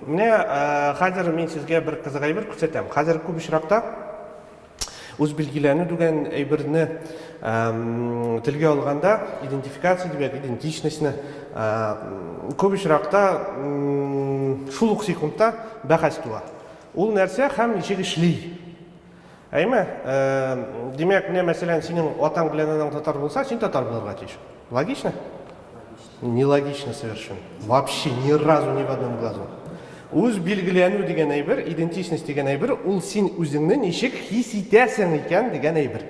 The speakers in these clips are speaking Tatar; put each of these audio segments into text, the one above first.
Менә хәзер мин сезгә бер кызык әйбер күрсәтәм. Хәзер күп очракта үз билгеләнү дигән әйберне телгә алганда идентификация дигән идентичностьны күп очракта шул ук секундта бәхәс туа. Ул нәрсә һәм ничек эшли? Әйме, э, димәк, менә мәсәлән, синең атаң белән анаң татар булса, син татар булырга тиеш. Логично? Нелогично совершенно. Вообще ни разу ни в одном глазу. Үз билгеләнү дигән әйбер, идентичность дигән әйбер, ул син үзеңне ничек хис итәсең икән дигән әйбер.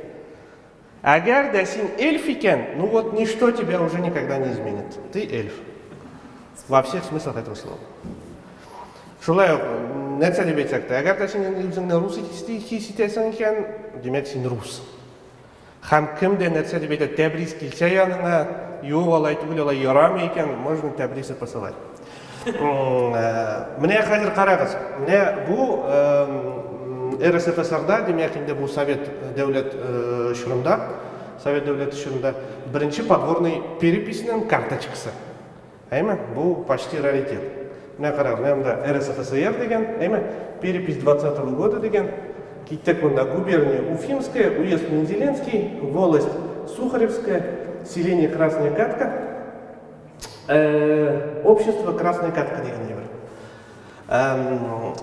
Әгәр дә син эльф икән, ну вот ничто тебя уже никогда не изменит. Ты эльф. Во всех смыслах этого слова. Шулай ук, нәрсә дип әйтсәк тә, әгәр дә син инде үзеңне рус хис итәсең икән, димәк син рус. Һәм кем дә нәрсә дип әйтә, тәбрис килсә яныңа, юк алай түгел, алай ярамый икән, можно тәбрисы посылать. Менә хәзер карагыз, менә бу РСФСРда, димәк инде бу Совет дәүләт чорында, Совет дәүләте чорында беренче подворный переписьнең карточкасы. Әйме? Бу почти раритет. Менә карагыз, менә монда РСФСР дигән, әйме? Перепись 20 -го года дигән. Киттек монда губерния Уфимская, уезд Мензеленский, волость Сухаревская, селение Красная Катка. общество красная катка дигәндәй бер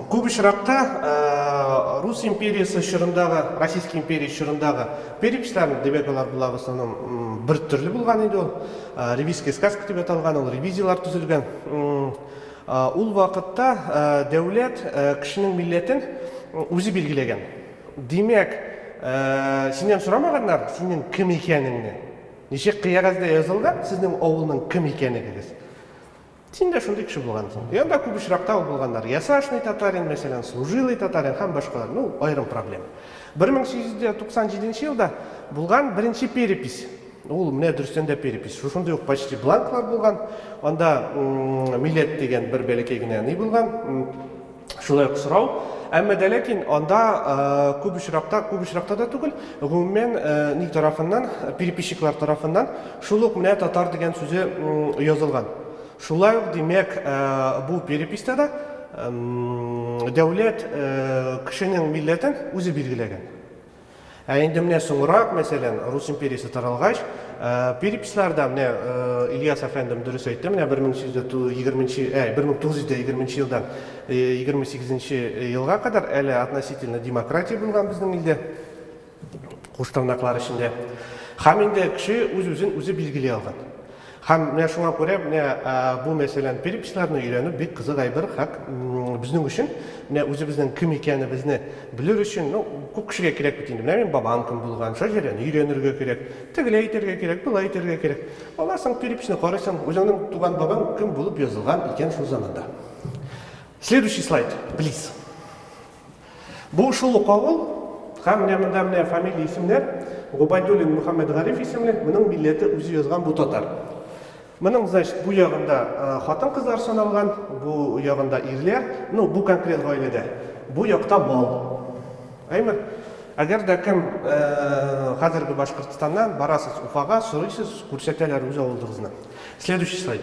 күп очракта рус империясы чорындагы российский империя чорындагы перепичлар димәк алар була в основном бер төрле булган иде ул ревизская сказка дип аталган ул ревизиялар төзелгән ул вакытта дәүләт кешенең милләтен үзе билгеләгән димәк синнән сорамаганнар синең кем икәнеңне Ничек кыягәзгә язылган сезнең авылның кем икәнегегез? Син дә шундый кеше булгансың. Янда күп очракта ул булганнар. Ясашный татарин, мәсәлән, служилый татарин һәм башкалар. Ну, аерым проблема. 1897 елда булган беренче перепись. Ул менә дөрестән дә перепись. Шушындый ук почти бланклар булган. Анда милләт дигән бер бәләкәй генә ни булган. Шулай ук сорау. Әмма дә ләкин анда э, күп очракта, күп очракта да түгел, гомумән э, ни тарафыннан, переписчиклар тарафыннан шул ук менә татар дигән сүзе язылган. Шулай ук, димәк, э, бу переписта да дәүләт кешенең милләтен үзе билгеләгән. Ә инде менә соңрак, мәсәлән, Рус империясе таралгач, переписларда, менә Ильяс әфәндем дөрес әйтте, менә 1820 ә, 1920 елдан 28 елга кадәр әле относительно демократия булган безнең илдә, куштырнаклар эчендә. Һәм инде кеше үз-үзен үзе билгели алган. Һәм менә шуңа күрә менә бу мәсәлән переписләрне өйрәнү бик кызык әйбер, хак безнең өчен менә үзебезнең кем икәнебезне белер өчен, ну, күп кешегә кирәк бит инде, менә мин бабам кем булган, шәҗәрәне өйрәнергә кирәк, тегеләй итәргә кирәк, болай итәргә кирәк. Аннан соң переписьне карыйсың, үзеңнең туган бабаң кем булып язылган икән шул заманда. Следующий слайд, плиз. Бу шул ук авыл, һәм менә монда менә фамилия исемнәр, Губайдуллин Мөхәммәтгариф исемле, моның милләте үзе язган бу татар. Моның, значит, бу ягында хатын-кызлар саналган, бу ягында ирләр, ну, бу конкрет гаиләдә, бу якта мал. Әйме? Әгәр дә кем хәзерге Башкортстаннан барасыз Уфага, сорыйсыз, күрсәтәләр үз авылыгызны. Следующий слайд.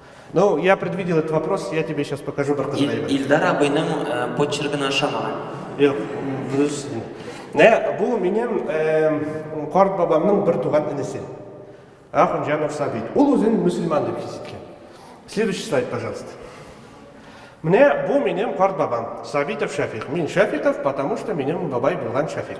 Ну, я предвидел этот вопрос, я тебе сейчас покажу Бартазаева. Ил, Илдар абыйның э, почеркын ашамаган. Юк, дөрес. Нә, бу минем э, карт бабамның бер туган энесе. Ахунҗанов Сабит. Ул үзен мусульман дип хис иткән. Следующий слайд, пожалуйста. Мне бу минем карт бабам, Сабитов Шафик. Мин Шафиков, потому что минем бабай булган Шафик.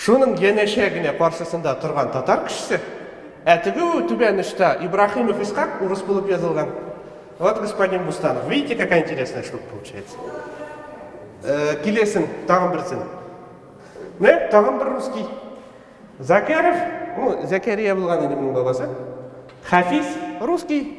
Шуның янәшә генә каршысында торган татар кешесе, ә теге түбән очта Ибраһимов Исхак урыс булып язылган. Вот господин Бустанов. Видите, какая интересная штука получается. Килесен, тагын берсен. Менә тагын бер русский. Закәров, ну, Зәкәрия булган инде моның бабасы. Хафиз, русский.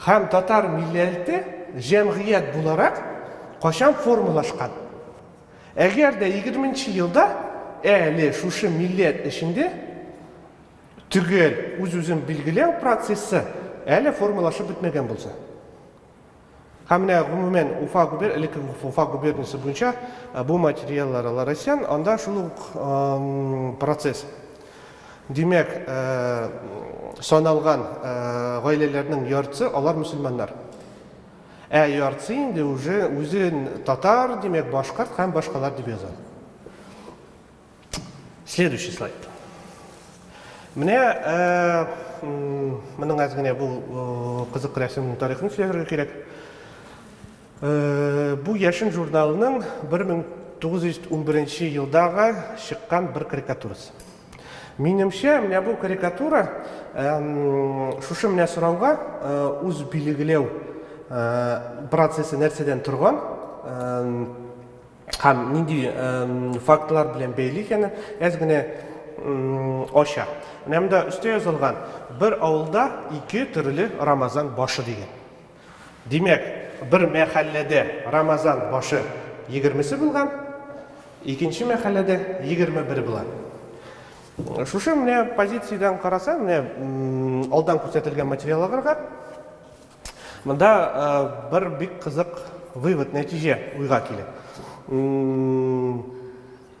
Һәм татар милләлте җәмгыять буларак качан формалашкан? Әгәр дә егерменче елда әле шушы милләт эчендә төгәл үз-үзен билгеләү процессы әле формалашып бетмәгән булса. Һәм менә гомумән Уфа губер, элекке Уфа губерниясе буенча бу материаллар Ларасян, анда шул ук процесс. Димәк, саналган гаиләләрнең яртысы алар мөселманнар. Ә яртысы инде уже үзен татар, димәк, башкорт һәм башкалар дип яза. Следующий слайд. Менә моның әз генә бу кызык рәсемнең тарихын сөйләргә кирәк. Бу Яшен журналының 1911 елдагы чыккан бер карикатурасы. Минемчә, менә бу карикатура шушы менә сорауга үз билгеләү процессы нәрсәдән торган һәм нинди фактлар белән бәйле икәнен әз генә ача. Менә монда өстә язылган бер авылда ике төрле Рамазан башы дигән. Димәк, бер мәхәлләдә Рамазан башы егермесе булган, икенче мәхәлләдә егерме бер була. Шушы менә позициядән карасаң, менә алдан күрсәтелгән материалларга монда бер бик кызык вывод, нәтиҗә уйга килә.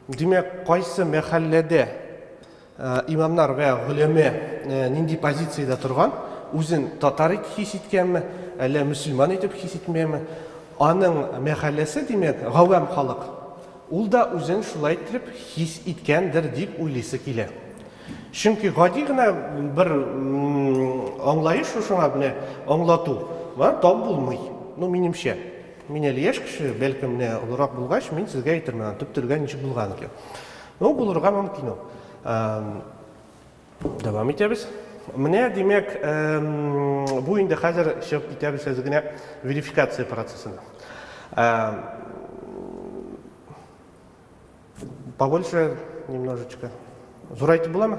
Димәк, кайсы мәхәлләдә Имамнар вә голәмә нинди позициядә торган, үзен татар итеп хис иткәнме, әллә мөселман итеп хис итмәме, аның мәхәлләсе, димәк, гавам халык, ул да үзен шулай иттереп хис иткәндер дип уйлыйсы килә. Чөнки гади генә бер аңлаеш шушыңа менә аңлату белән тап булмый. Ну, минемчә. Мин әле яшь кеше, бәлкем, менә олырак булгач, мин сезгә әйтермен, аның төп төргә ничек булган икән. Ну, булырга мөмкин ул. Дәвам итәбез. Менә, димәк, бу инде хәзер чыгып китәбез әз генә верификация процессына. Побольше немножечко. Зурайтып буламы?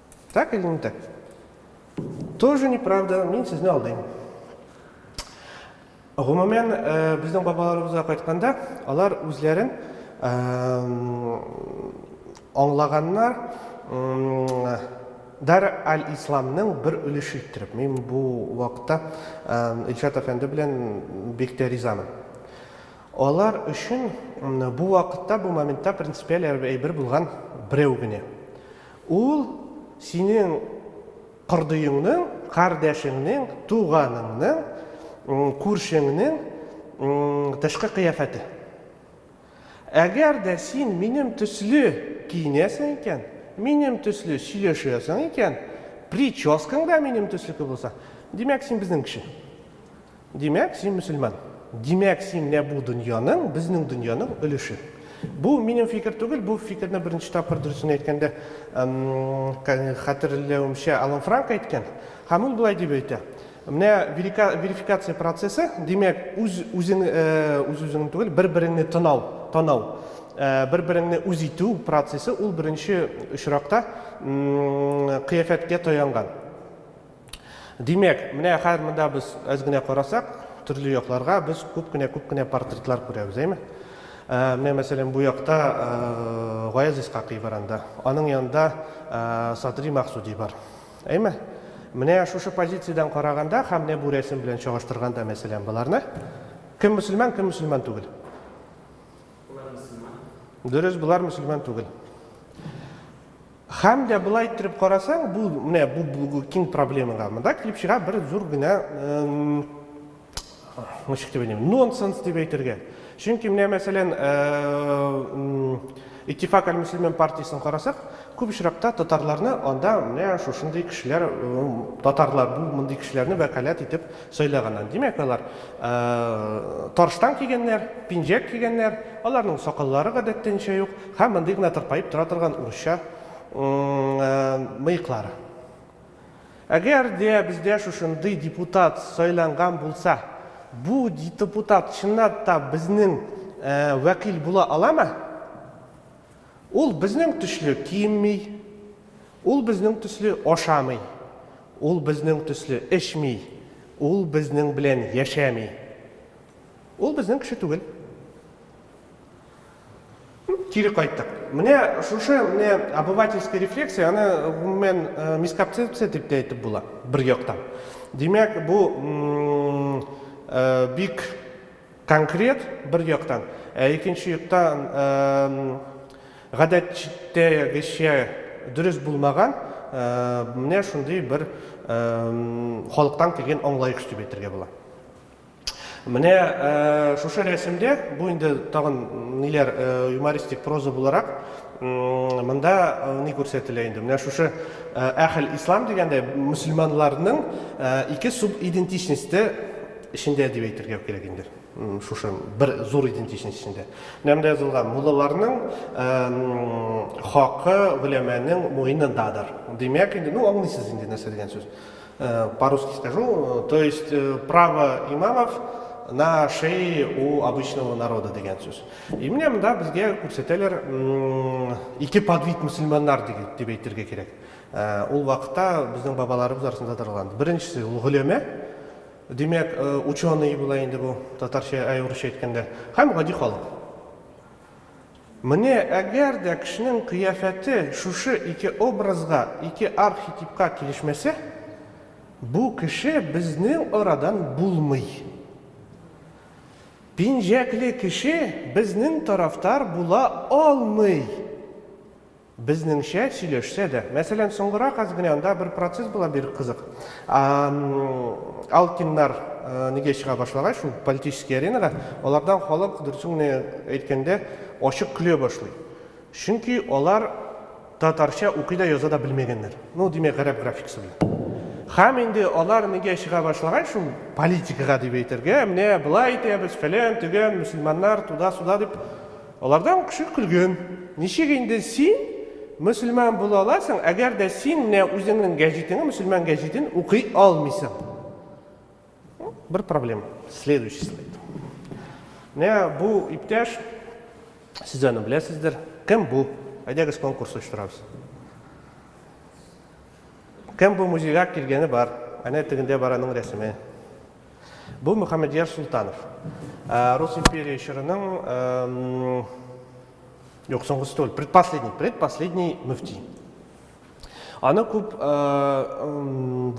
Так или не так? Тоже неправда, мин сезне алдыйм. Гомумән, э, безнең бабаларыбызга кайтканда, алар үзләрен аңлаганнар Дар аль-Исламның бер өлеше иттереп. Мин бу вакытта Илшат әфәнде белән бик тә ризамын. Алар өчен бу вакытта, бу моментта принципиаль әйбер булган берәү генә. Ул синең кордыеңның, кардәшеңнең, туганыңның, күршеңнең тышкы кыяфәте. Әгәр дә син минем төсле киенәсең икән, минем төсле сөйләшәсең икән, прическаң да минем төслеке булса, димәк, син безнең кеше. Димәк, син мөселман. Димәк, син менә бу дөньяның, безнең дөньяның өлеше. Бу минем фикер түгел, бу фикерне беренче тапкыр, дөресен әйткәндә, хәтерләвемчә, Алан Франк әйткән. Һәм ул болай дип әйтә. Менә верификация процессы, димәк, үз үзең үз үзеңне түгел, бер-береңне тынау, танау, бер-береңне үз итү процессы ул беренче очракта кыяфәткә таянган. Димәк, менә хәзер монда без әз генә карасак, төрле якларга без күп кенә күп кенә портретлар күрәбез, әйме? Ә, менә мәсәлән бу якта ә, Гаяз Исхакый бар анда. Аның янында ә, Садри Максуди бар. Әйме? Менә шушы позициядән караганда һәм менә бу рәсем белән чагыштырганда мәсәлән боларны кем мөселман, кем мөселман түгел? Болар мөселман. Дөрес, болар мөселман түгел. Һәм дә болай иттереп карасаң, бу менә бу бу киң проблемага монда килеп чыга бер зур гына ничек дип әйтим, нонсенс дип әйтергә. Чөнки менә мәсәлән, Иттифак әл-Мөслимин партиясен карасак, күп очракта татарларны анда менә шушындый кешеләр, татарлар бу мондый кешеләрне вәкаләт итеп Сайлаганнан, димәк, алар тарштан кигәннәр, пинжәк кигәннәр, аларның сакаллары гадәттәнчә юк һәм мондый гына тырпаеп тора торган урысча мыеклары. Әгәр дә бездә шушындый депутат сайланган булса, бу депутат чынлап та безнең вәкил була аламы? Ул безнең төсле киенми, ул безнең төсле ашамый, ул безнең төсле эчми, ул безнең белән яшәми. Ул безнең кеше түгел. Кире кайттык. Менә шушы менә обывательский рефлексия, аны гомумән э, мискапцепция дип тә әйтеп була, бер яктан. Димәк, бу э, бик Конкрет, бер яктан, ә икенче яктан, гадәттәгечә дөрес булмаган менә шундый бер халыктан килгән аңлаеш дип әйтергә була. Менә шушы рәсемдә, бу инде тагын ниләр, юмористик проза буларак, монда ни күрсәтелә инде, менә шушы Әхел Ислам дигәндә мөселманнарның ике субидентичносте, эчендә дип әйтергә кирәк инде шушы бер зур идентичность эчендә нәмдә язылган муллаларның хакы гөләмәнең муенындадыр димәк инде ну аңлыйсыз инде нәрсә дигән сүз по русски скажу то есть право имамов на шее у обычного народа дигән сүз и менә монда безгә күрсәтәләр ике подвид мөселманнар дип әйтергә кирәк ул вакытта безнең бабаларыбыз арасында таралган беренчесе ул гөләмә Димәк, ученые була инде бу, татарча, әй, урысча әйткәндә, һәм гади халык. Менә әгәр дә кешенең кыяфәте шушы ике образга, ике архетипка килешмәсә, бу кеше безнең арадан булмый. Пинжәкле кеше безнең тарафтар була алмый! Безнеңчә сөйләшсә дә. Мәсәлән, соңгырак аз генә анда бер процесс була бир кызык. Алкиннар нигә чыга башлагач, ул политический аренага, алардан халык, дөресен генә әйткәндә, ачык көлә башлый. Чөнки алар татарча укый да, яза да белмәгәннәр. Ну, димәк, гарәп графикасы белән. Һәм инде алар нигә чыга башлагач, ул политикага дип әйтергә, менә болай итәбез, фәлән, төгән, мөселманнар, туда-суда дип, Аларда ук кеше көлгән. Ничек инде син мөселман була аласың, әгәр дә син менә үзеңнең гәҗитеңне, мөселман гәҗитен укый алмыйсың? Бер проблема. Следующий слайд. Менә бу иптәш, сез аны беләсездер. Кем бу? Әйдәгез конкурс оештырабыз. Кем бу музейга килгәне бар? Әнә тегендә бар аның рәсеме. Бу Мөхәммәдияр Султанов. Рус империя чорының юк, соңгысы түгел, предпоследний, предпоследний мөфти. Аны күп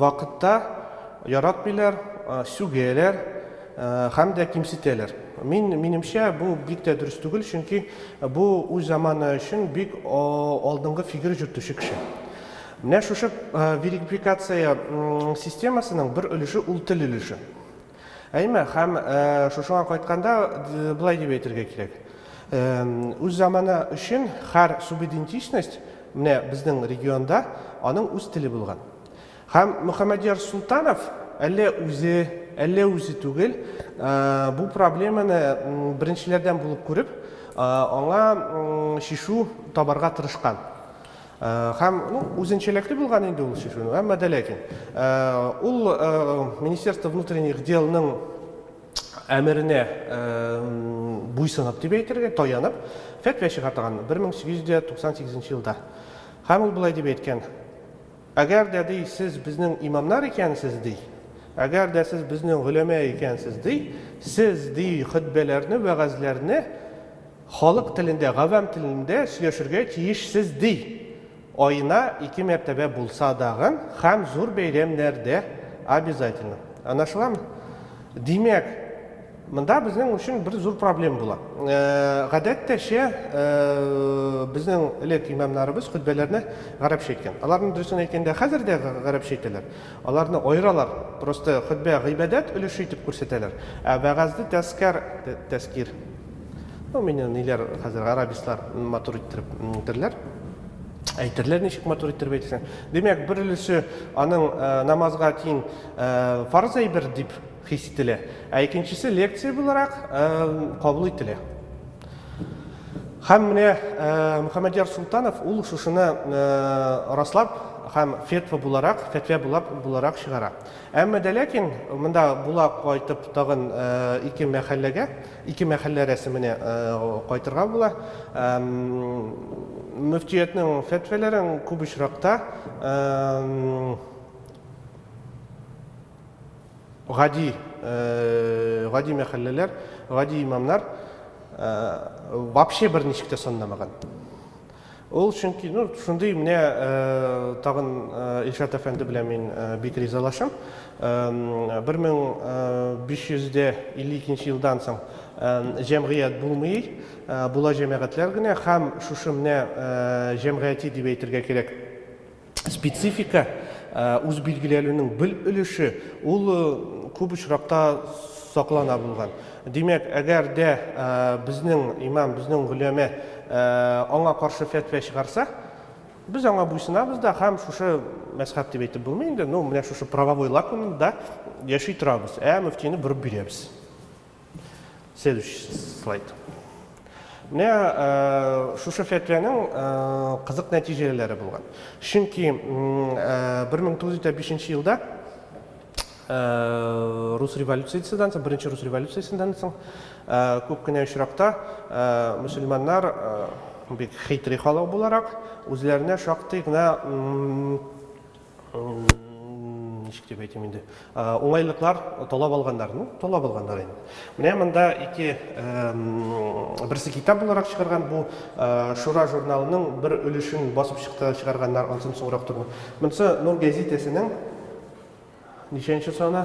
вакытта яратмыйлар, сүгәләр һәм дә кимсетәләр. Мин минемчә бу бик тә дөрес түгел, чөнки бу үз заманы өчен бик алдынгы фигер җөртүче кеше. Менә шушы верикприкация системасының бер өлеше ул тел өлеше. Әйме, һәм шушыңа кайтканда былай дип әйтергә кирәк. Үз заманы өчен һәр субидентичность менә безнең регионда аның үз теле булган. Һәм Мөхәммәдияр Султанов әллә үзе, әллә үзе түгел, бу проблеманы беренчеләрдән булып күреп, аңа чишү табарга тырышкан. Һәм, ну, үзенчәлекле булган инде ул шифренур, әмма дә ләкин. Ул Министерство внутренних делның әмеренә буйсынып дип әйтергә, таянып, фәтвә чыгартган 1898 елда. Һәм ул болай дип әйткән, Әгәр дә, ди, сез безнең имамнар икәнсез, ди, әгәр дә сез безнең гөләмә икәнсез, ди, сез, ди, хөтбәләрне, вәгазьләрне Халык телендә, гавам телендә сөйләшергә тиешсез ди. Аена ике мәртәбә булса дагын хәм зур бәйрәмнәрдә обязательно. Анашыламы? Димәк, монда безнең өчен бер зур проблем була. Гадәттәчә, безнең элек имамнарыбыз хөтбәләрне гарәпчә әйткән. Аларны дөресен әйткәндә хәзер дә гарәпчә әйтәләр. Аларны аералар, просто хөтбә гыйбадәт өлеше итеп күрсәтәләр, ә вәгазьне тәзкәр, тәзкир. Ну, мине ниләр хәзер арабислар матур иттереп әйтерләр. Әйтерләр ничек матур иттереп әйтсәң. Димәк, бер өлеше аның э, намазга тиң э, фарз әйбер дип хис ителә, ә икенчесе лекция буларак э, кабул ителә. Һәм менә Мөхәммәдияр Султанов ул шушыны раслап һәм фетва буларак, фәтвә булап буларак чыгара. Әмма дә ләкин монда була кайтып тагын ике мәхәлләгә Ике мәхәллә рәсеменә кайтырга була. Мөфтиятнең фәтвәләрен күп очракта гади гади мәхәлләләр, гади имамнар вообще берничек тә санламаган. Ул чөнки, ну, шундый менә тагын Илшат әфәнде белән мин бик ризалашам. 1552 елдан соң җәмгыять булмый, була җәмәгатьләр генә һәм шушы менә җәмгыяти дип әйтергә кирәк. специфика үз билгеләлүнең бел өлеше ул күп очракта саклана булган. Димәк, әгәр дә безнең имам, безнең гөләмә аңа каршы фәтвә чыгарса, без аңа буйсынабыз да һәм шушы мәзхәб дип әйтеп булмый инде, ну, менә шушы правовой лакунда яши торабыз, ә мөфтине борып бирәбез. Следующий слайд. Менә э, шушы фәтвәнең э, кызык нәтиҗәләре булган. Чөнки 1905 э, елда рус революциясеннән соң, беренче рус революциясеннән соң күп кенә очракта мөселманнар бик хитри халык буларак, үзләренә шактый гына ничек дип әйтим инде уңайлыклар талап алганнар ну талап алганнар инде менә монда ике берсе китап буларак чыгарган бу шура журналының бер өлешен басып чыкты чыгарганнар ансын соңрак туры монысы нур гәзитәсенең ничәнче саны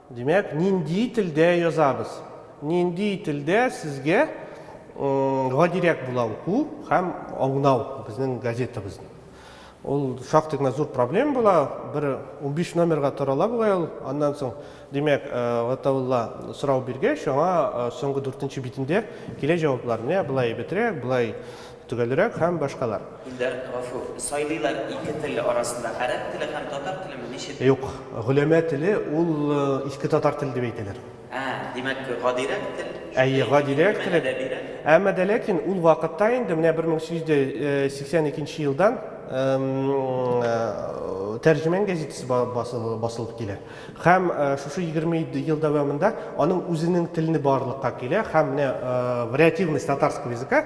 Димәк, нинди телдә язабыз? Нинди телдә сезгә гадирәк була уку һәм аңлау безнең газетабызны? Ул шактый гына зур проблем була, бер 15 номерга тарала бугай ул. Аннан соң, димәк, Гатаулла сорау биргәч, аңа соңгы дүртенче битендә килә җаваплар. Менә болай әйбәтрәк, болай Төгәлрәк һәм башкалар. Илдар Гафур, сайлыйлар ике тел арасында гарәп теле һәм татар телеме, ничек? Юк, голәмә теле ул иске татар теле дип әйтәләр. Ә, димәк, гадирәк тел, Әйе, гадирәк тел, әмма дә ләкин ул вакытта инде, менә 1882 елдан Тәрҗемән гәзитәсе басылып килә. Һәм шушы 27 ел дәвамында аның үзенең телене барлыкка килә һәм менә вариативность татарского языка,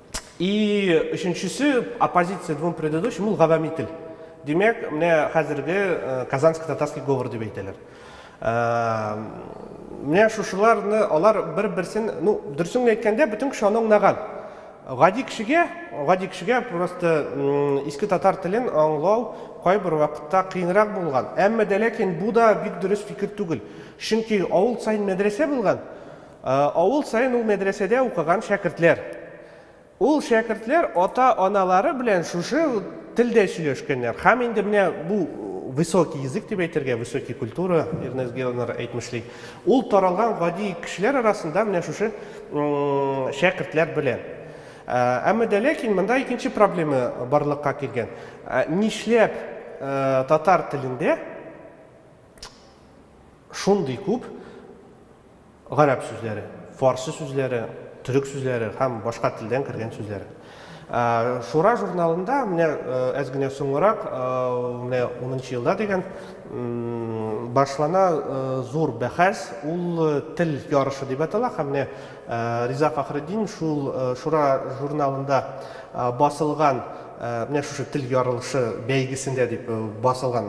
И өченчесе, оппозиция двум предыдущим, ул гавәми тел. Димәк, менә хәзерге э, казанский татарский говор дип әйтәләр. Э, менә шушыларны алар бер-берсен, ну, дөресен әйткәндә, бөтен кеше аны аңлаган. Гади кешегә, гади кешегә просто иске татар телен аңлау кайбер вакытта кыенрак булган. Әмма дә ләкин бу да бик дөрес фикер түгел. Чөнки авыл сайын мәдрәсә булган. Авыл саен ул мәдрәсәдә укыган шәкертләр. Ул шәкертләр ата-аналары белән шушы телдә сөйләшкәннәр һәм инде менә бу высокий язык дип әйтергә, высокий культура, Эрнест Гелнер әйтмешли, ул таралган гади кешеләр арасында менә шушы шәкертләр белән. Әмма дә ләкин монда икенче проблема барлыкка килгән. Нишләп татар телендә, шундый күп гарәп сүзләре, фарсы сүзләре, төрек сүзләре һәм башка телдән кергән сүзләре. Ә, Шура журналында менә э, әз генә соңрак, э, менә 10 елда дигән, башлана э, зур бәхәс, ул тел ярышы дип атала һәм менә Риза Фәхретдин шул Шура журналында басылган, менә шушы тел ярылышы бәйгесендә дип басылган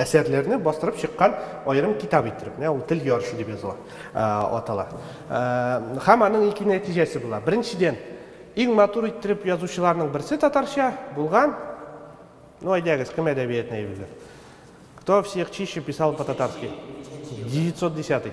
әсәрләрне бастырып чыккан аерым китап иттереп, менә ул тел ярышы дип языла, атала. Һәм аның ике нәтиҗәсе була. Беренчедән, иң матур иттереп язучыларның берсе татарча булган, ну әйдәгез, кем әдәбиятны әйберләр? Кто всех чище писал по-татарски? 910-й.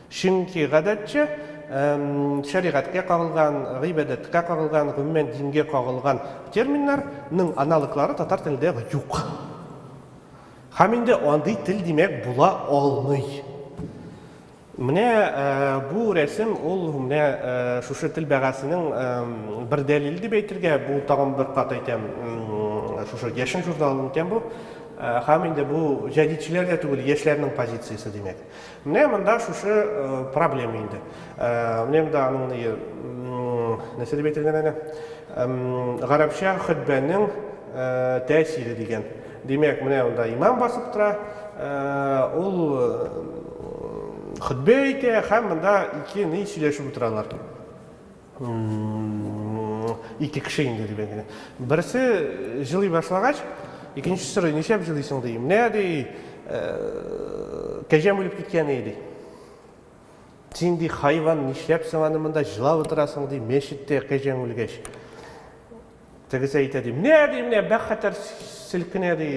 Чөнки, гадәтчә, шәригатькә кагылган, гыйбадәткә кагылган, гомумән, дингә кагылган терминнар ның аналоглары татар телендә юк. Һәм инде андый тел, димәк, була алмый. Менә бу рәсем ул менә шушы тел бәгасенең бер дәлиле дип әйтергә, бу тагын бер кат әйтәм, шушы Яшен журналының икән бу. Һәм инде бу җәдитчеләр дә түгел, яшьләрнең позициясе, димәк. Менә монда шушы проблема инде. Менә монда аның ни нәрсә дип әйтелгән әле? Гарәпчә хөтбәнең тәэсире дигән. Димәк, менә монда имам басып тора, ул хөтбә әйтә һәм монда ике ни сөйләшеп утыралар. Ике кеше инде, дип әйтә. Берсе җылый башлагач, икенчесе сорый, ничәп җылыйсың, ди. Менә, ди, кәҗәм үлеп киткән иде, ди. Син, ди, хайван, нишләп соң аны монда җылап утырасың, ди, мәчеттә кәҗәң үлгәч. Тегесе әйтә, ди, менә, ди, менә бәхәтәр селкенә, ди,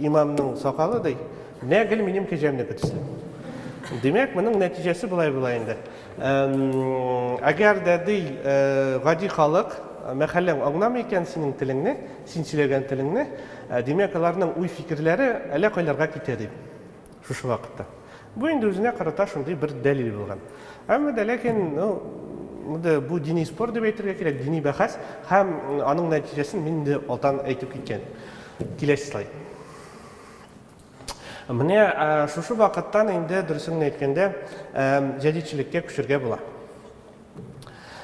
имамның сакалы, ди, менә гел минем кәҗәмнеке төсле. Димәк, моның нәтиҗәсе болай була инде. Әгәр дә, ди, гади халык, мәхәлләң аңламый икән синең телеңне, син сөйләгән телеңне, димәк, аларның уй-фикерләре әллә кайларга китә, ди. Шушы вакытта. Бу инде үзенә карата шундый бер дәлил булган. Әмма дә ләкин, ну, инде бу дини спор дип әйтергә кирәк, дини бәхәс һәм аның нәтиҗәсен мин инде алдан әйтеп киткән. Киләсе слайд. Менә шушы вакыттан инде дөресен генә әйткәндә, җәдидчелеккә күчергә була.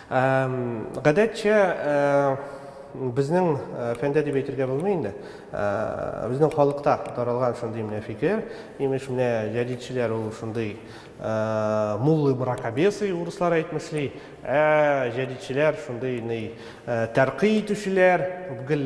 Гадәтчә безнең фәндә дип әйтергә булмый инде. Безнең халыкта таралган шундый менә фикер, имеш менә җәдидчеләр ул шундый муллы мракобесы урыслар әйтмешли, ә җәдидчеләр шундый ни тәркый итүчеләр, гел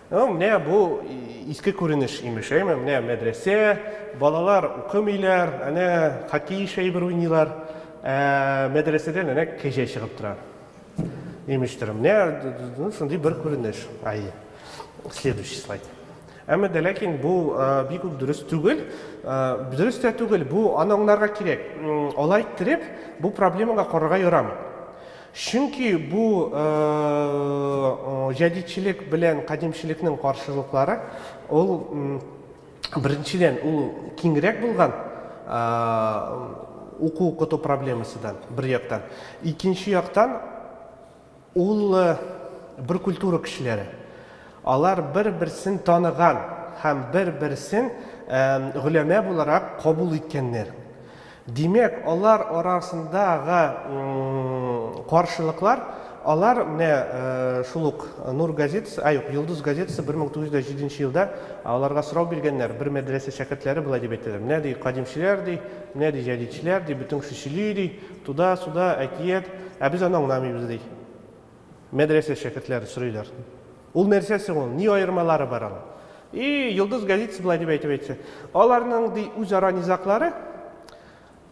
Ну, менә бу иске күренеш имеш, әйме? Менә мәдрәсә, балалар укымыйлар, әнә хоккей шәйбер уйныйлар, ә мәдрәсәдән әнә кәҗә чыгып тора. Имештер, менә ну, шундый бер күренеш. Ай, следующий слайд. Әмма дә ләкин бу бик үк дөрес түгел. Дөрес тә түгел, бу аны аңларга кирәк. Алай иттереп, бу проблемага карарга ярамый. Чөнки бу җәдидчелек белән кадимчелекнең каршылыклары, ул, беренчедән, ул киңрәк булган уку-укыту проблемасыдан, бер яктан. Икенче яктан, ул бер культура кешеләре. Алар бер-берсен таныган һәм бер-берсен голәмә буларак кабул иткәннәр. Димәк, алар арасындагы каршылыклар, алар менә шул ук Нур газетасы, а юк, Йолдыз газетасы 1907 нче елда аларга сорау биргәннәр, бер мәдрәсә шәкертләре болай дип әйтәләр, менә ди кадимчеләр ди, менә ди җәдидчеләр ди, бөтен кеше сөйли ди, туда-суда, әкият, ә без аны аңламыйбыз ди. Мәдрәсә шәкертләре сорыйлар. Ул нәрсә соң ул? Ни аермалары бар аның? И, Йолдыз газетасы болай дип әйтеп әйтсә. Аларның, ди, үзара низаклары,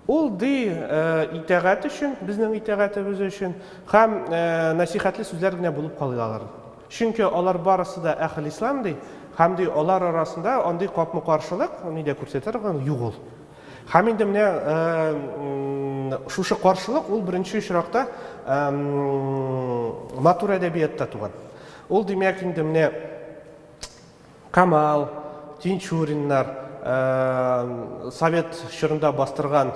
ул, ди, итәгать өчен, безнең итәгатебез өчен, һәм насихәтле сүзләр генә булып калый алар. Чөнки алар барысы да әхел ислам, ди, һәм, ди, алар арасында андый капма-каршылык, ни дә күрсәтер, юк ул. Һәм инде менә шушы каршылык ул беренче очракта матур әдәбиятта туган. Ул димәк инде менә Камал, Тинчуриннар, совет чорында бастырган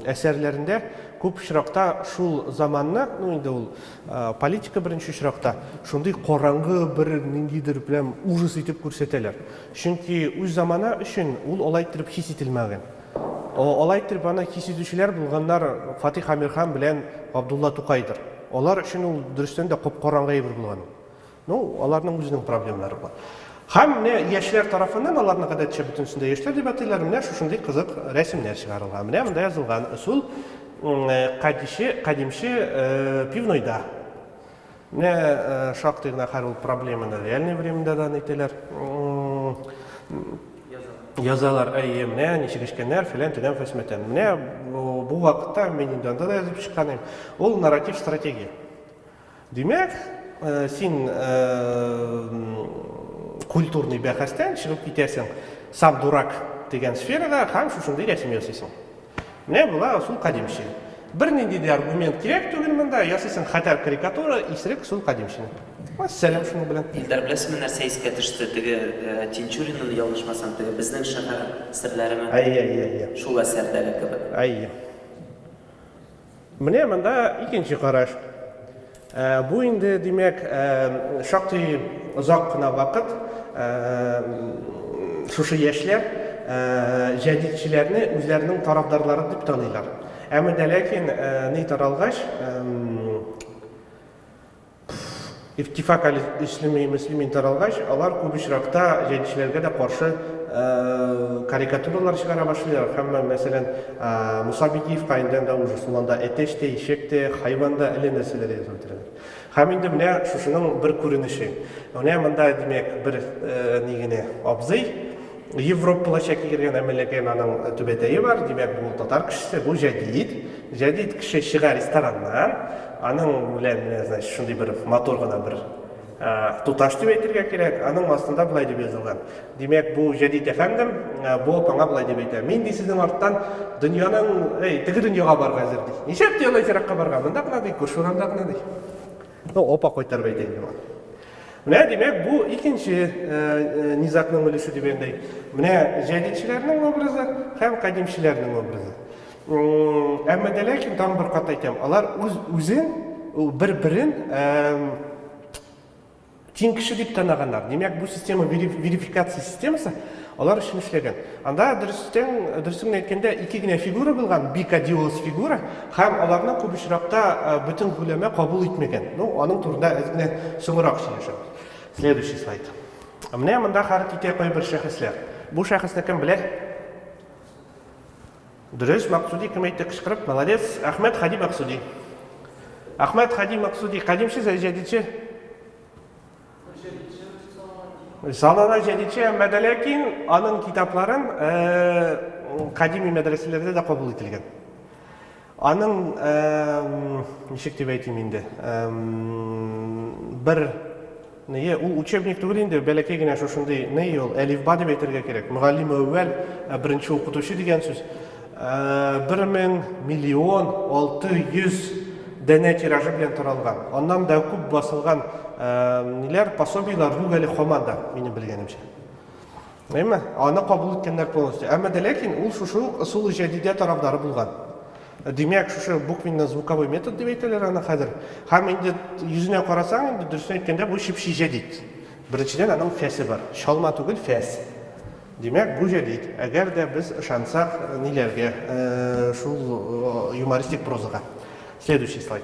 әсәрләрендә күп очракта шул заманны, ну инде ул политика беренче очракта, шундый караңгы бер ниндидер прям ужас итеп күрсәтәләр. Чөнки үз заманы өчен ул алай иттереп хис ителмәгән. Алай иттереп аны хис итүчеләр булганнар Фатих Әмирхан белән Габдулла Тукайдыр. Алар өчен ул, дөрестән дә, кап-караңгы әйбер булган ул. Ну, аларның үзенең проблемнары бар. Һәм менә яшьләр тарафыннан, аларны, гадәтчә, бөтенесен дә яшьләр дип атыйлар, менә шушындый кызык рәсемнәр чыгарылган. Менә монда язылган ысул, кадимче пивнойда. Менә шактый гына хәл ул проблеманы реальный временда да нитәләр. Язалар, әйе, менә ничек эчкәннәр, фәлән төнәм фәсмәтән. Менә бу вакытта мин инде анда да язып чыкканым. Ул нарратив стратегия. Димәк, э, син э, культурный бәхәстән чыгып китәсең сам дурак дигән сферага һәм шушындый рәсем ясыйсың. Менә була ысул кадимче. Бернинди дә аргумент кирәк түгел монда, ясыйсың хәтәр карикатура, исерек ысул кадимчене. Вәссәлам шуның белән. Илдар, беләсеңме, нәрсә искә төште, теге Тинчуринны, ялгышмасам, теге Безнең шәһәр серләреме? Әйе, әйе, әйе. Шул әсәрдәге кебек. Әйе. Менә монда икенче караш. Ә, бу инде, димәк, ә, шактый озак кына вакыт ә, шушы яшьләр ә, җәдитчеләрне үзләренең тарафдарлары дип таныйлар. Әмма дә ләкин ә, ни таралгач, ә, Пф. Иртифак әл ислеми мөслимин таралгач, алар күп очракта җәдитчеләргә дә каршы карикатуралар чыгара башлыйлар, һәммә, мәсәлән, Муса Бикиев Каиндән дә ужас, ул анда әтәч тә, ишәк тә, хайван да, әллә нәрсәләр язып бетерәләр. Һәм инде менә шушының бер күренеше. Менә монда, димәк, бер ни генә абзый, Европалы чәккә кергән әмәләкәй наның түбәтәе бар, димәк, бу татар кешесе, бу җәдит. Җәдит кеше чыга рестораннан, аның белән менә, значит, шундый бер матур гына бер туташ дип әйтергә кирәк, аның астында болай дип язылган. Димәк, бу җәдит әфәндем, бу апаңа болай дип әйтә. Мин ди сезнең арттан дөньяның, әй, теге дөньяга барырга әзер ди. Ничәп ди алай еракка барырга? Монда гына ди, күрше урамда гына ди. Ну, опа кайтар бәйт инде бу. Менә димәк бу икенче э, э, низакның өлеше дигәндәй. Менә җәдидчеләрнең образы һәм кадимчеләрнең образы. Әмма дә ләкин тагын бер кат әйтәм, алар үз үзен бер-берен Тиң кеше дип таныганнар. Димәк, бу система верификация системасы алар өчен эшләгән. Анда дөрестән, дөресен әйткәндә, ике генә фигура булган, бикадиоз фигура, һәм аларны күп очракта э, бөтен гүләмә кабул итмәгән. Ну, аның турында әз генә соңрак сөйләшәбез. Следующий слайд. Менә монда хәрәкәт итә кайбер шәхесләр. Бу шәхесне кем белә? Дөрес, Максуди кем әйтте кычкырып? Молодец. Әхмәт Хади Максуди. Әхмәт Хади Максуди кадимче сәй җәдидче? Салона җәдидче, әмма дә ләкин аның китапларын кадими мәдрәсәләрдә дә кабул ителгән. Аның ничек дип әйтим инде? Бер Ные, ул учебник түгел инде, бәләкәй генә шушындый ные ул, әлифба дип әйтергә кирәк. Мөгаллимүәүвәл, ә беренче укытучы дигән сүз. Бер мең, миллион, алты йөз данә тиражы белән таралган. Аннан да күп басылган ниләр, пособиеләр юк әле һаман да, минем белгәнемчә. Әйме, аны кабул иткәннәр полностью. Әмма дә ләкин ул шушы ук ысул-и җәдидә тарафдары булган. Димәк, шушы буквенно-звуковой метод дип әйтәләр аны хәзер. Һәм инде йөзенә карасаң, инде дөресен әйткәндә, бу чеп-чи җәдид. Беренчедән, аның фәсе бар. Чалма түгел, фәс. Димәк, бу җәдид. Әгәр дә без ышансак ниләргә, шул юмористик прозага. Следующий слайд.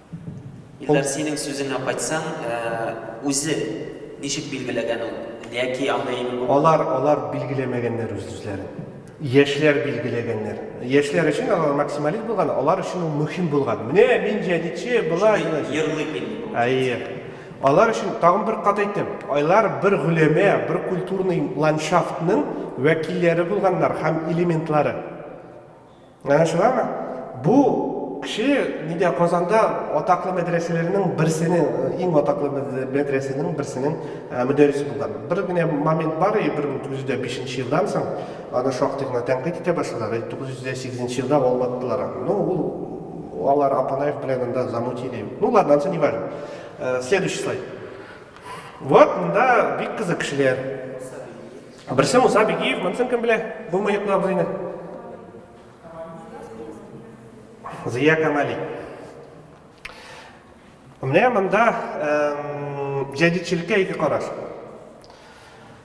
Илдар, синең сүзеңә кайтсам, үзе ничек билгеләгән ул? Яки андый... Алар, алар билгеләмәгәннәр үз-үзләрен. Яшьләр билгеләгәннәр. Яшьләр өчен алар максималист булган, алар өчен ул мөһим булган. Менә мин җәдитче, болай. Йырлый мин. Әйе. Алар өчен тагын бер кат әйтәм, айлар бер гөләмә, бер культурный ландшафтның вәкилләре булганнар һәм элементлары. Менә шулар бу кеше нидә Казанда атаклы мәдрәсәләрнең берсенең, иң атаклы мәдрәсәнең берсенең мөдәррисе булган. Бер генә момент бар, 1905 нче елдан соң аны шактый гына тәнкыйть итә башладылар, 1908 нче елда валлаттылар аны. Ну, ул алар Апанаев белән анда замутили. Ну, ладно, ансы не важно. Следующий слайд. Вот, монда бик кызык кешеләр. Берсе Муса Бигиев, монысын кем белә? Бу мыеклы абзыйны. Зия Камали. Менә монда җәдидчелеккә ике караш.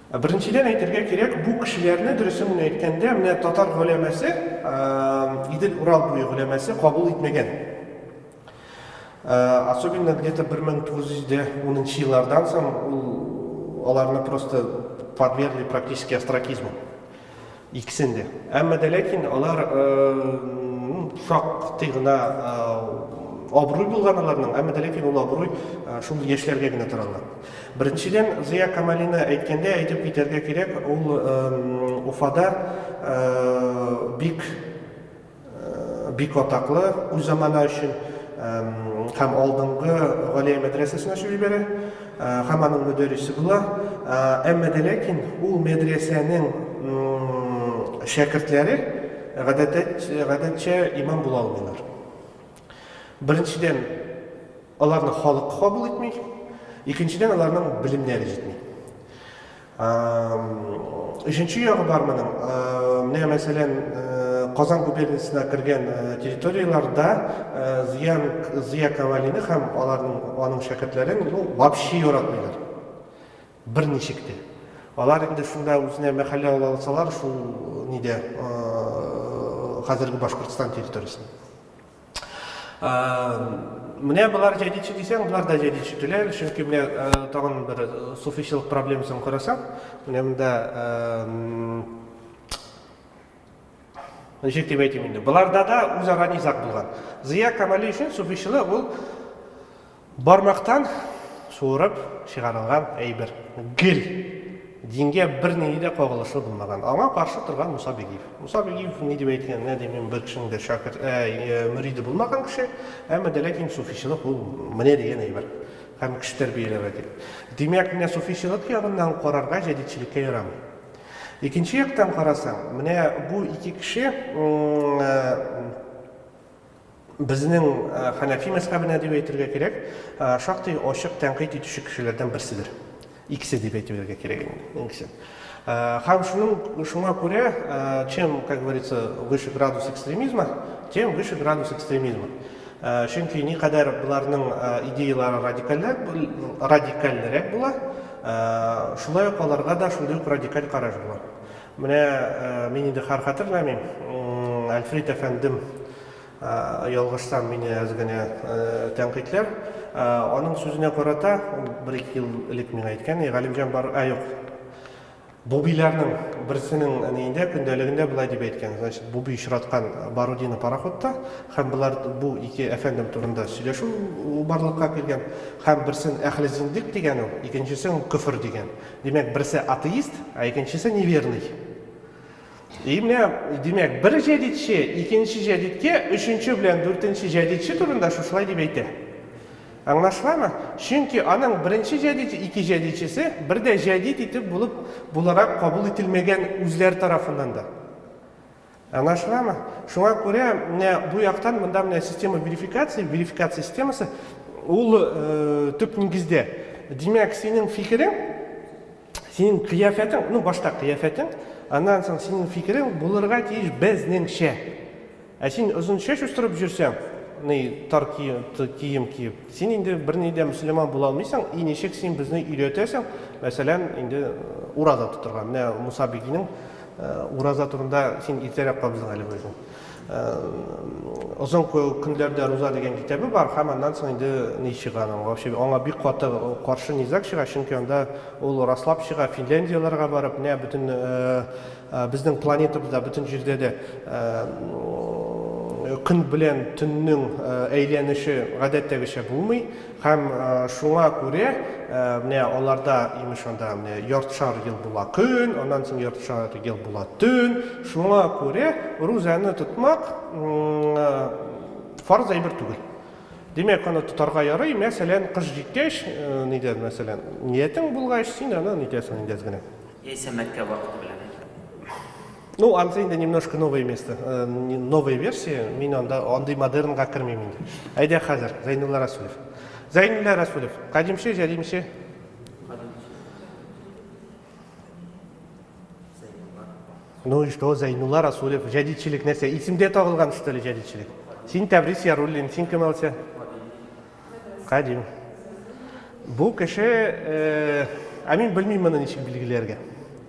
Беренчедән әйтергә кирәк, бу кешеләрне дөресен генә әйткәндә, менә татар гөләмәсе, Идел Урал буе гөләмәсе кабул итмәгән. Особенно где-то 1910 нчы еллардан соң ул аларны просто подвергли практически остракизму. Икесен дә. Әмма дә ләкин алар шактый гына абруй булган аларның, әмма дә ләкин ул абруй шул яшьләргә генә таралган. Беренчедән, Зыя Камалины әйткәндә әйтеп китәргә кирәк, ул Уфада бик Бик атаклы үз заманы өчен һәм алдынгы Галия мәдрәсәсен ачып җибәрә һәм аның мөдәррисе була. Әмма дә ләкин ул мәдрәсәнең шәкертләре гадәтчә имам була алмыйлар. Беренчедән, аларны халык кабул итми, икенчедән, аларның белемнәре җитми. Өченче ягы бар моның. Менә мәсәлән, Казан губерниясенә кергән территорияләрдә Зыян Зыя Кавалины һәм аларның аның шәкертләрен ну вообще яратмыйлар. Берничек тә. Алар инде шунда үзенә мәхәллә ала алсалар шул нидә хәзерге Башкортстан территориясендә. Менә болар җәдидче дисәң, болар да җәдидче түләл, чөнки менә тагын бер суфичылык проблемасын карасаң, менә монда ничек дип әйтим инде, боларда да үзара низаг булган. Зыя Камали өчен суфичылык ул Бармактан суырып чыгарылган әйбер. Гел! Дингә бернинди дә кагылышлы булмаган. Аңа каршы торган Муса Бигиев. Муса Бигиев ни дип әйткән, менә дим мин бер кешенең дә шәкерт, ә, мөриде булмаган кеше, әмма дә ләкин суфичылык ул менә дигән әйбер. Һәм кеше тәрбияләмә дип. Димәк, менә суфичылык ягыннан карарга җәдитчелеккә ярамый. Икенче яктан карасаң, менә бу ике кеше, м, безнең хәнәфи мәзхәбенә дип әйтергә кирәк, шактый ачык тәнкыйть итүче кешеләрдән берседер. Икесе дип әйтергә кирәк инде, икесе. Һәм шуның шуңа күрә, чем, как говорится, выше градус экстремизма, тем выше градус экстремизма. Чөнки никадәр боларның идеялары радикальләр, радикальлерәк була, шулай ук аларга да шундый ук радикаль караш була. Менә мин инде хар хәтерләмим, Әлфрит әфәндем, ялгышсам, мине әз генә тәнкыйтьләр. Аның сүзенә карата, ул бер-ике ел элек миңа әйткән, Әй, Галимҗан, бар, ә юк, бубиләрнең берсенең әниендә, көндәлегендә болай дип әйткән, значит, буби очраткан Барудино пароходта, һәм болар, бу ике әфәндем турында сөйләшү барлыкка килгән, һәм берсен әхле зиндыйк дигән ул, икенчесен ул көфер дигән. Димәк, берсе атеист, ә икенчесе неверный. И менә, димәк, бер җәдидче икенче җәдидкә өченче белән дүртенче җәдидче турында шушылай дип әйтә. Аңлашыламы? Чөнки аның беренче җәдид, ике җәдидчесе бер дә җәдид итеп булып буларак кабул ителмәгән үзләр тарафыннан да. Аңлашыламы? Шуңа күрә менә бу яктан монда менә система верификации, верификация системасы ул э, төп нигездә. Димәк, синең фикерең, синең кыяфәтең, ну башта кыяфәтең, аннан соң синең фикерең булырга тиеш безнеңчә. Ә син озын чәч үстереп жүрсәң, ни тар кием киеп, син инде берни дә мөселман була алмыйсың, и ничек син безне өйрәтәсең, мәсәлән, инде э, ураза тотырга. Менә Муса бигинең Ураза турында син иртәрәк кабыздың әле үзең. Озын көнләрдә руза дигән китабы бар, һәм аннан соң инде ни чыга аның? Вообще аңа бик каты каршы низаг чыга, чөнки анда ул раслап чыга Финляндияләргә барып, менә бөтен безнең планетабызда, бөтен җирдә дә көн белән төннең әйләнеше гадәттәгечә булмый. Һәм шуңа күрә менә аларда, имеш, анда менә яртышар ел була көн, аннан соң яртышар ел була төн. Шуңа күрә рузаны тотмак фарыз әйбер түгел. Димәк, аны тотарга ярый, мәсәлән, кыш җиткәч, нидән, мәсәлән, ниятең булгач, син аны нитәсең инде әз генә. Яисә Мәккә вакыты белән. Ну, анысы инде немножко новое место, э, новая версия, мин анда андый модернга кермим инде. Әйдә хәзер, Зәйнулла Расулев. Зәйнулла Расулев, кадимче, җәдимче? Ну и что, Зәйнулла Расулев, җәдидчелек нәрсә? Исемдә тагылган что ли җәдидчелек? Син Тәбрис Яруллин, син кем алса? Кадим. Бу кеше, э, ә мин белмим моны ничек билгеләргә.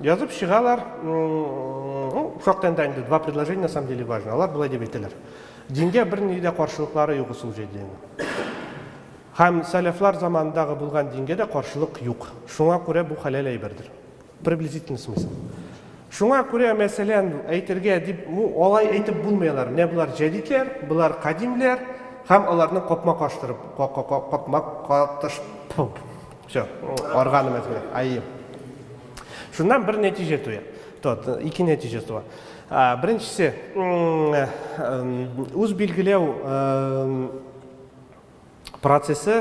Язып чыгалар, шактый анда инде два предложения на самом деле важно. Алар болай дип әйтәләр. Дингә бер ни дә каршылыклары юк ул җәйдәнең. Һәм сәләфлар заманындагы булган дингә дә каршылык юк. Шуңа күрә бу хәләл әйбердер. Приблизительный смысл. Шуңа күрә, мәсәлән, әйтергә дип, алай әйтеп булмый алар. Менә болар җәдитләр, болар кадимләр һәм аларны капма-каштырып, капма-катыш, Все, органым әзгерә, айым. Шуннан бер нәтиҗә туя. Тот, ике нәтиҗә туа. Беренчесе, үз билгеләү процессы,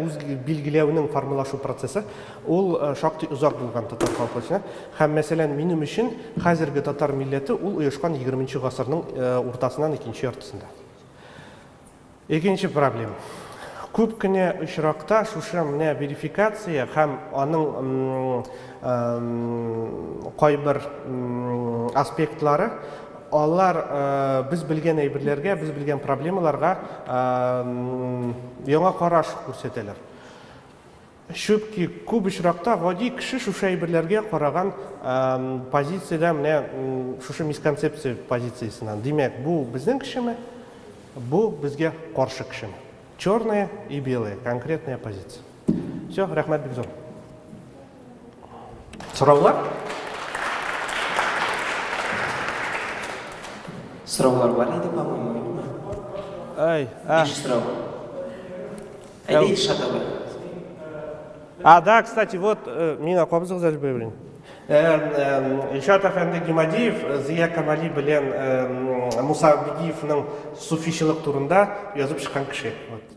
үз билгеләүнең формалашу процессы, ул шактый озак булган татар халкы өчен. Һәм, мәсәлән, минем өчен хәзерге татар милләте ул оешкан 20 нче гасырның уртасыннан икенче яртысында. Икенче проблем. Күп кенә очракта шушы менә верификация һәм аның кайбер аспектлары алар без белгән әйберләргә, без белгән проблемаларга яңа караш күрсәтәләр. Чүтки, күп очракта гади кеше шушы әйберләргә караган позициядә менә шушы мисконцепция позициясеннән. Димәк, бу безнең кешеме, бу безгә каршы кешеме? Черное и белое, конкретная позиция. Все, рәхмәт бик зур. Сораулар? Сораулар бар иде, по-моему, юкмы? Ай, а. Биш сорау. Әйдә ит шатабы. А, да, кстати, вот, э, мин акабызыгыз әле белмим. Илшат әфәнде Гимадиев э, Зия Камали белән э, Муса Абдиевның суфичылык турында язып чыккан кеше. Вот.